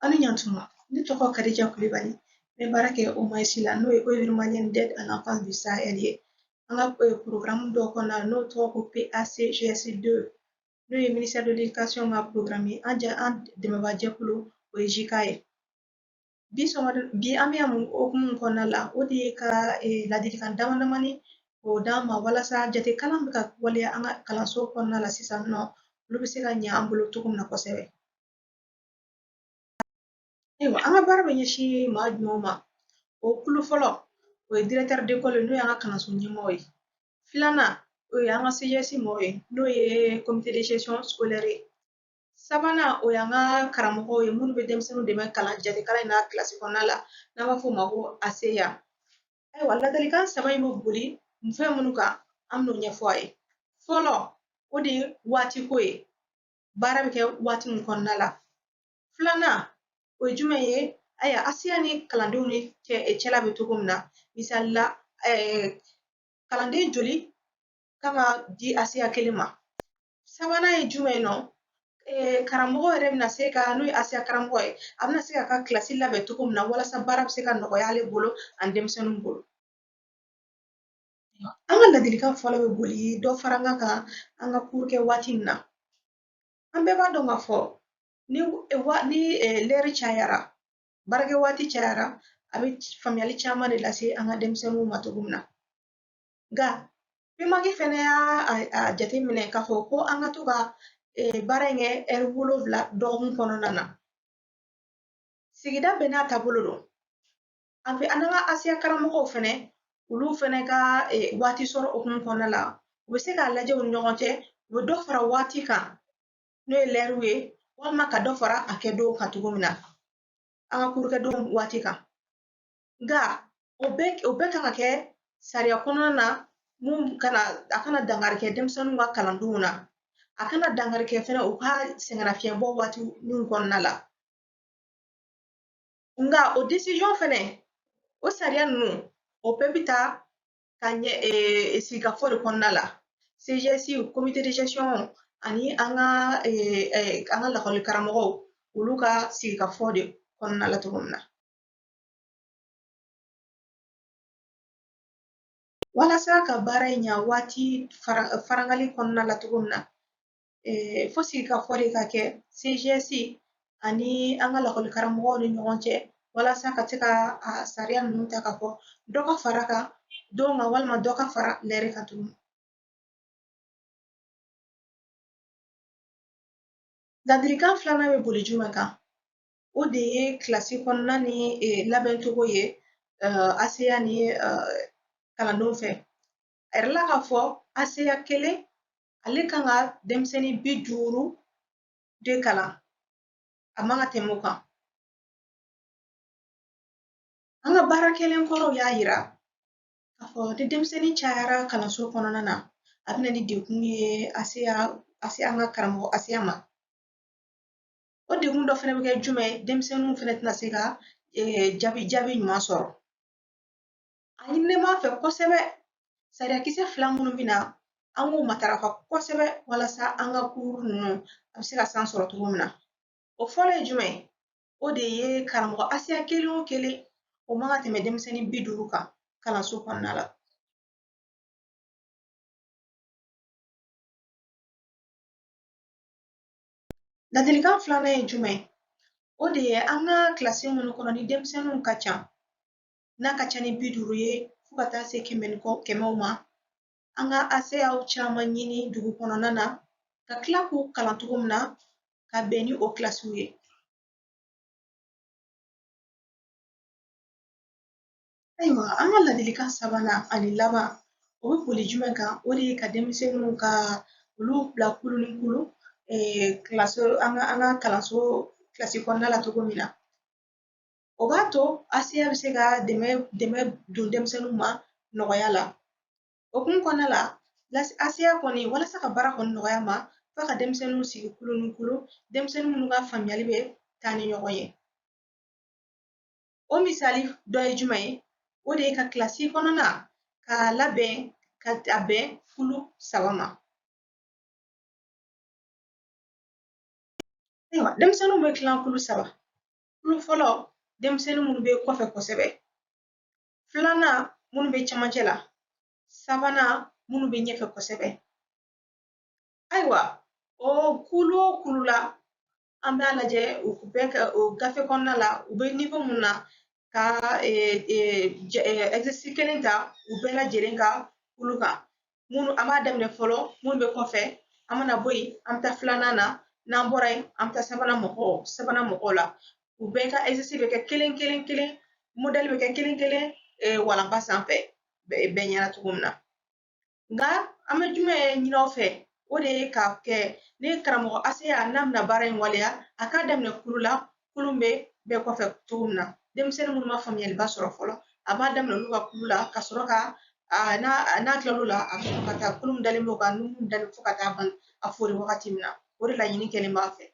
A ni ɲantuma ne tɔgɔ Kadija Kulibali n bɛ baara kɛ OMAES la n'o ye Œuvre malienne d'aide à l'enfance du Sahel ye an ka programme dɔ kɔnɔna na n'o tɔgɔ ko PACGS 2 n'o ye ministère de l'éducation ka programme ye an jɛ an dɛmɛbaa jɛkulu o ye JICA ye bi sɔgɔmada bi an bɛ yan mun hukumu min kɔnɔna la o de ye ka ladilikan dama damani k'o d'a ma walasa jate kalan bɛ ka waleya an ka kalanso kɔnɔna la sisan nɔ olu bɛ se ka ɲɛ an bolo cogo min na kosɛbɛ Ayiwa an ka baara bɛ ɲɛsin maa jumɛnw ma o kulu fɔlɔ o ye directeur d'école n'o y'an ka kalanso ɲɛmɔgɔ ye filanan o ye an ka CGS mɔgɔ ye n'o ye comité de gestion scolaire ye sabanan o y'an ka karamɔgɔw ye minnu bɛ denmisɛnninw dɛmɛ kalan jatekalan in na kilasi kɔnɔna la n'an b'a fɔ o ma ko ACA ayiwa ladilikan saba in bɛ boli fɛn minnu kan an bɛn'o ɲɛfɔ a ye fɔlɔ o de ye waatiko ye baara bɛ kɛ waati min kɔnɔna la filanan o ye jumɛn ye aya ACA ni kalandenw ni cɛla bɛ cogo min na misali la kalanden joli kan ka di ACA kelen ma sabanan ye jumɛn ye nɔ karamɔgɔ yɛrɛ bɛna se ka n'o ye ACA karamɔgɔ ye a bɛna se ka ka kilasi labɛn cogo min na walasa baara bɛ se ka nɔgɔya ale bolo ani denmisɛnninw bolo An ka ladilikan fɔlɔ bɛ boli dɔ fara an ka an ka kurukɛ waati min na an bɛɛ b'a dɔn k'a fɔ ni ni lɛri cayara baarakɛ waati cayara a bɛ faamuyali caman de lase an ka denmisɛnninw ma cogo min na nka PMAQ fɛnɛ y'a jateminɛ k'a fɔ ko an ka to ka baara in kɛ ɛri wolonwula dɔgɔkun kɔnɔna na sigida bɛɛ n'a taabolo don an fɛ an ka ACA karamɔgɔw fɛnɛ olu fɛnɛ ka waati sɔrɔ o hukumu kɔnɔna la u bɛ se k'a lajɛ u ni ɲɔgɔn cɛ u bɛ dɔ fara waati kan n'o ye lɛriw ye walima ka dɔ fara a kɛ don kan cogo min na an ka kurukɛ don waati kan nka o bɛɛ o bɛɛ kan ka kɛ sariya kɔnɔna na mun kana a kana dankari kɛ denmisɛnninw ka kalandonw na a kana dankari kɛ fɛnɛ u ka sɛgɛnnafiɲɛbɔ waati nin kɔnɔna la nka o décision fɛnɛ o sariya ninnu o bɛɛ bɛ ta ka ɲɛ ee sigikafɔ de kɔnɔna la CGS comité de gestion ani an ka an ka lakɔli karamɔgɔw olu ka sigikafɔ de kɔnɔna la cogo min na walasa ka baara in ɲa waati farangali kɔnɔna la cogo min na ee, fo sigikafɔ de ka kɛ CGS ani an ka lakɔli karamɔgɔw ni ɲɔgɔn cɛ walasa ka se ka a sariya ninnu ta ka fɔ dɔ ka fara kan don kan walima dɔ ka fara lɛri kan tuguni ladilikan filanan bɛ boli jumɛn kan o de ye kilasi kɔnɔna ni eh, labɛncogo ye eh, ACA ni eh, kalandenw fɛ a yɛrɛ la k'a fɔ ACA kelen ale kan ka denmisɛnnin bi duuru de kalan a man ka tɛmɛ o kan an ka baara kɛlen kɔrɔw y'a yira k'a fɔ ni denmisɛnnin cayara kalanso kɔnɔna na a bɛ na ni degun ye a se a se an ka karamɔgɔ ACA ma o degun dɔ fana bɛ kɛ jumɛn ye denmisɛnninw fana tɛna se ka jaabi jaabi ɲuman sɔrɔ a ɲininen b'a fɛ kosɛbɛ sariyakisɛ fila minnu bɛ na an k'u matarafa kosɛbɛ walasa an ka kuru ninnu a bɛ se ka san sɔrɔ cogo min na o fɔlɔ ye jumɛn ye o de ye karamɔgɔ ACA kelen o kelen o man ka tɛmɛ denmisɛnnin bi duuru kan kalanso kɔnɔna la ladilikan filanan ye jumɛn ye o de ye an ka kilasi minnu kɔnɔ ni denmisɛnninw ka ca n'a ka ca ni bi duuru ye fo ka taa se kɛmɛ ni kɔ kɛmɛw ma an ka ACAw caman ɲini dugu kɔnɔna na ka tila k'u kalan cogo min na ka bɛn ni o kilasiw ye ayiwa an ka ladilikan sabanan ani laban o bɛ boli jumɛn kan o de ye ka denmisɛnninw ka olu bila kulu ni kulu kilasi an ka an ka kalanso kilasi kɔnɔna la cogo min na o b'a to ACA bɛ se ka dɛmɛ dɛmɛ don denmisɛnninw ma nɔgɔya la o kun kɔnɔna la ACA kɔni walasa ka baara kɔni nɔgɔya ma f'a ka denmisɛnninw sigi kulu ni kulu denmisɛnnin minnu ka faamuyali bɛ taa ni ɲɔgɔn ye o misali dɔ ye jumɛn ye o de ye ka kilasi kɔnɔna ka labɛn ka a bɛn kulu saba ma ayiwa denmisɛnninw bɛ tilan kulu saba Kulu fɔlɔ denmisɛnnin minnu bɛ kɔfɛ kosɛbɛ filanan minnu bɛ cɛmancɛ la sabanan minnu bɛ ɲɛfɛ kosɛbɛ ayiwa o kulu o kulu la an b'a lajɛ u bɛɛ ka o gafe kɔnɔna la u bɛ niwo min na ka ɛgizɛrisisi kelen ta u bɛɛ lajɛlen ka kulu kan minnu an b'a daminɛ fɔlɔ minnu bɛ kɔfɛ an mana bɔ yen an bɛ taa filanan na n'an bɔra yen an bɛ taa sabanan mɔgɔw sabanan mɔgɔw la u bɛɛ ka ɛgizɛrisisi bɛ kɛ kelen kelen kelen modɛli bɛ kɛ kelen kelen eh, walanba sanfɛ bɛɛ ɲɛna cogo min na nka an bɛ jumɛn ɲini aw fɛ o de ye k'a kɛ ne karamɔgɔ aseya n'a bɛna baara in waleya a k'a daminɛ kulu la kulu min bɛ bɛɛ kɔfɛ cogo min na denmisɛnnin minnu ma faamuyaliba sɔrɔ fɔlɔ a b'a daminɛ olu ka kulu la ka sɔrɔ ka n'a tilal'o la a bɛ ka taa kulu min dalen b'o kan ni min dalen fo ka taa ban a foori wagati min na o de laɲini kɛlen b'a fɛ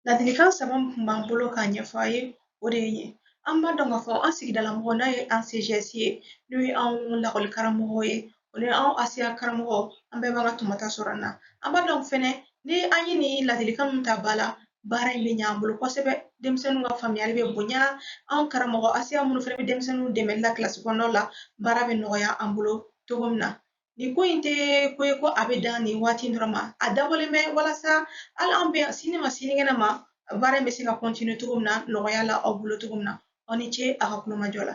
ladilikan saba min kun b'an bolo k'a ɲɛfɔ aw ye o de ye nin ye an b'a dɔn k'a fɔ an sigidala mɔgɔ n'a ye an CGS ye n'o ye anw lakɔli karamɔgɔ ye o ni anw asiya karamɔgɔ an bɛɛ b'an ka tɔmɔta sɔrɔ an na an b'a dɔn fɛnɛ ni an ye nin ladilikan ninnu ta ba la baara in bɛ ɲɛ an bolo kosɛbɛ denmisɛnninw ka faamuyali bɛ bonya anw karamɔgɔ asiya minnu fana bɛ denmisɛnninw dɛmɛli la kilasi kɔnɔnaw la baara bɛ nɔgɔya an bolo cogo min na Nin ko in tɛ ko ye ko a bɛ dan nin waati dɔrɔn ma a dabɔlen bɛ walasa hali an bɛ yan sini ma sinikɛnɛ ma baara in bɛ se ka kɔntinye cogo min na nɔgɔya la aw bolo cogo min na aw ni ce a ka tulomajɔ la